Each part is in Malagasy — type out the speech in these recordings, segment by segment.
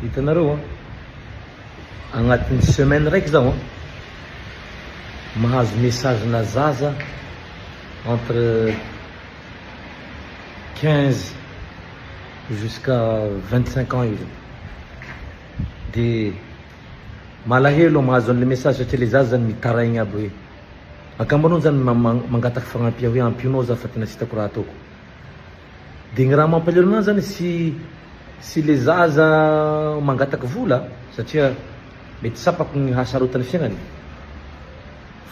Hitanareo an, agnatin'ny semaine raiky zaho an, mahazo message na zaza entre quinze jusqu'à vingt cinq ans eo zay, de malahelo aho mahazo an'le message satria le zaza zany mitaraigny aby hoe angamba anao zany mangataka fagnampia hoe ampio anao za fa tena tsy hitako raha ataoko. Dia ny raha mampalahelo an'azy zany tsy tsy le zaza mangataka vola satria mety tsapako ny hasarotan'ny fiainany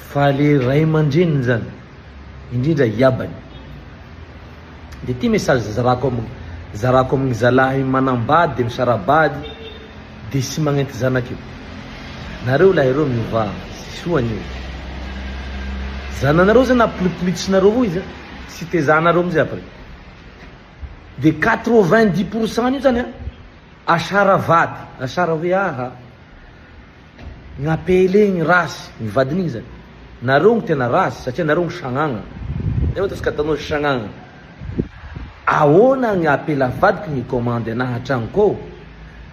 fa le ray aman-dreniny zany indrindra iabany. Dia ity message zarako am zarako amin'ny zalahy manambady misara-bady dia tsy magnenty zanaka io. Nareo lahy reo miovà, tsy soa an'io. Zananareo zany apolipolitsinareo io zany. Tsy tezahanareo mihitsy après. De quatre vingt dix pour cent an'io zany an, asara vady, asara hoe aha, ny APL igny ratsy, ny vadin'igny zany. Nareo gny tena ratsy satria nareo gny sagnagna. Nefa ataontsika ataonao izy sagnagna. Ahoana gny apela vadiko mi-commande anahy an-tragnoko ao?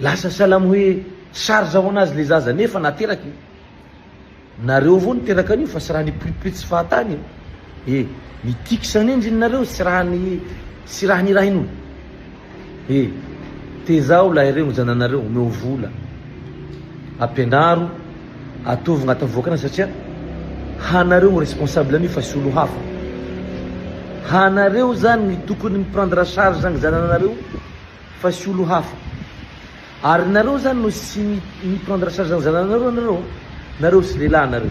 Lasa salamo hoe charge ho anazy le zaza nefa nateraka e! Nareo avao niteraka an'io fa sy raha ny pripri tsy fahatany e! E! Ny tics anie ndry nareo sy raha ny sy raha ny rainy o! E! Tezao lahy regno zananareo omeo vola! Ampianaro Ataovy agnatin'ny vokana satria hanareo no responsable an'io fa sy olo hafa. Hanareo zany no tokony mi prendre charge ny zananareo fa sy olo hafa. Ary nareo zany no sy mi prendre charge ny zananareo nareo nareo sy lehilahy nareo.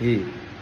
Ee.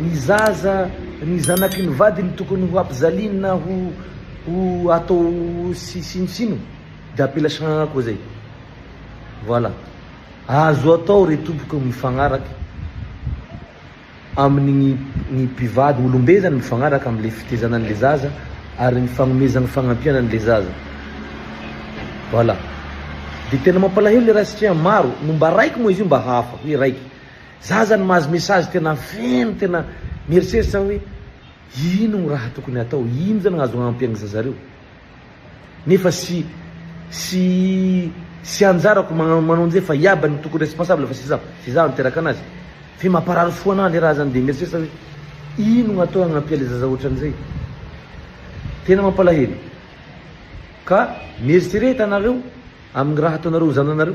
Ny zaza, ny zanaky ny vadiny tokony ho ampijaliany na ho ho atao sy sinosino de apela sagnagna koa zay. Voilà. Azo atao re tompoko ny mifagnaraka amin' ny ny mpivady olom-be zany mifagnaraka amin' le fitezana an' le zaza ary ny fagnomezana fagnampiana an' le zaza. Voilà. De tena mampalahelo le raha satria maro no mba raiky moa izy io mba hahafa hoe raiky. Za zany mahazo message tena feno tena mieritreritra aho hoe ino ny raha tokony hatao ino zany azo ampy any zaza reo nefa sy sy sy anjarako manao njay fa iaby no tokony responsable fa sy za sy za niteraka anazy fe mamparary fo ana le raha zany de mieritreritra hoe ino no atao agnampia le zaza otranzay tena mampalahelo ka mieritrereta anareo aminy raha ataonareo zananareo.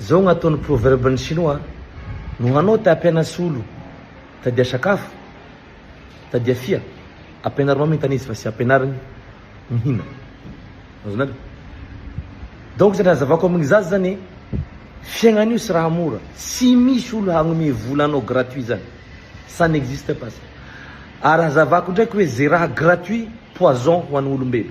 Zao no ataon'ny proverbe ny sinoa a! No hanao te hampiana solo tadia sakafo, tadia fia, ampianarinao mintana izy fa tsy ampianariny mihina. Azonareo? Donc zay nazavako aminy zaza zany hoe fiaignana io tsy raha mora, tsy misy olo hagnomey vola anao gratuit zany, ça n'existe pas ça. Ary hazavako ndraiky hoe ze raha gratuit poison ho an'olombelo.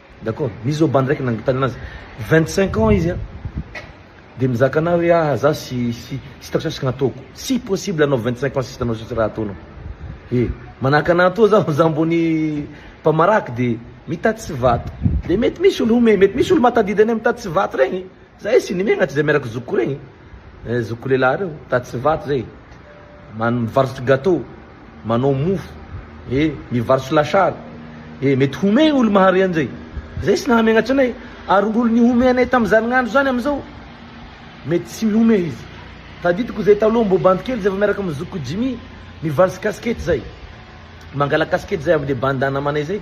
D'accord misy zao bandy raiky nangotany anazy vingt cinq ans izy an de mizaka anah hoe ah za sy sy sy tafisa sy gnataoko tsy possible anao vingt cinq ans sisa anao sisa raha ataonao e manahaka anah toa zaho za mbo ny mpamaraky de mitady tsy vato de mety misy olo home mety misy olo mahatadidy anay mitady tsy vato regny zahay sy nimegnatry zay miaraky zokiko regny eh zokiko lelahy reo mitady tsy vato zay Man mivarotra gateau, manao mofo, e mivarotra lasary, e mety homehy olo mahare anjay, zay tsy nahamegnatry anay, ary ngolo nihome anay tam zany ngandro zany amizao mety tsy mihomehy izy, tadidiko zay taloha mbo bandy kely zay vo miaraka am zokiko Jimmy mivarotsy casquette zay, mangala casquette zay amle bandy namanay zay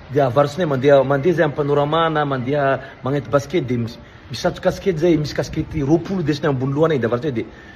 de avarotsinay mandeha mandeha zay am panorama na mandeha magnety basket de misatro casquette zay misy casquette roapolo desiny ambony lohanay de avarotsinay de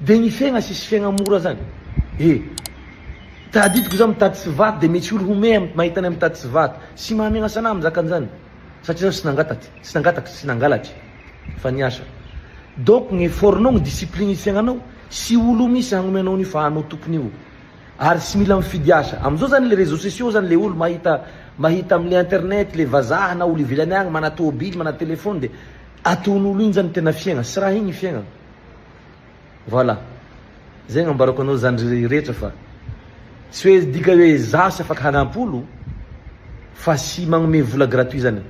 Dia ny fegna sisy fegna mora zany e! Tadidiko za mitady tsy vato dia mety olo homehy am mahita anay mitady tsy vato. Tsy mahamegna sanah mizaka anzany satria zaho tsy nangataty, tsy nangataka, tsy nangalatry fa niasa. Donc ny effort nao, ny discipline fiegnanao, tsy olo misy hagnome anao an'io fa anao tokony io. Ary tsy mila mifidy asa. Amzao zany le réseaux sociaux zany le olo mahita mahita amle internet le vazaha na olo ivelany agny mana tôbily, mana telephone dia Ataon'olo igny zany tena fiaigna sy raha igny fiaigna voilà zay gnambarako anao zany rehetra fa tsy hoe dika hoe za tsy afaka hanampy olo fa tsy magnome vola gratuit zany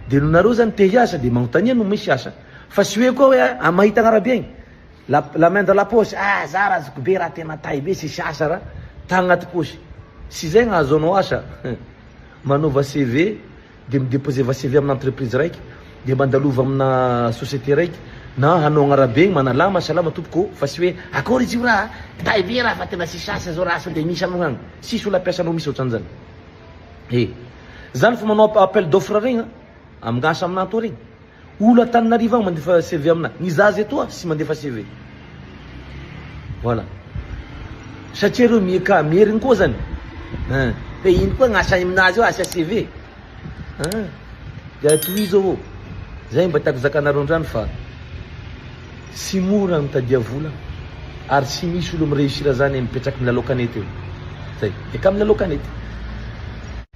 de no nareo zany te hiasa de magnontania no misy asa fa tsy hoe koa hoe a mahita agnarabe agny la la main dans la poche ah za ra azoko be ra tena tay be tsisy asa ra ta agnaty poche tsy zay gnahazoanao asa manaova CV dia mi-deposer va-CV amina entreprise raiky, dia mandalova amina société raiky, na hanao agnarabe igny, manalama, salama tompoko ô, fa tsy hoe, akôry izy io raha a, kitahy be raha fa tena tsisy asa zao raha, sao dia misy aminao agny? Tsisy olo ampiasanao misy ohatran zany. He. Zany fa manao appel d'offre regny a, amin'asa amin'ato regny. Olo Antananarivo agny mandefa CV amina. Ny zaza etoa tsy mandefa CV. Voilà. Satria reo mieka meriny koa zany. Hein. Fe ino koa gnasa aminazy eo asia CV. Hein. Dia tohizo ô. Zay mba tiako zakanareo andrany fa tsy mora ny mitadia vola ary tsy misy olo mi-reussir zany mipetraky milalao kanety eo. Zay. Eka milalao kanety.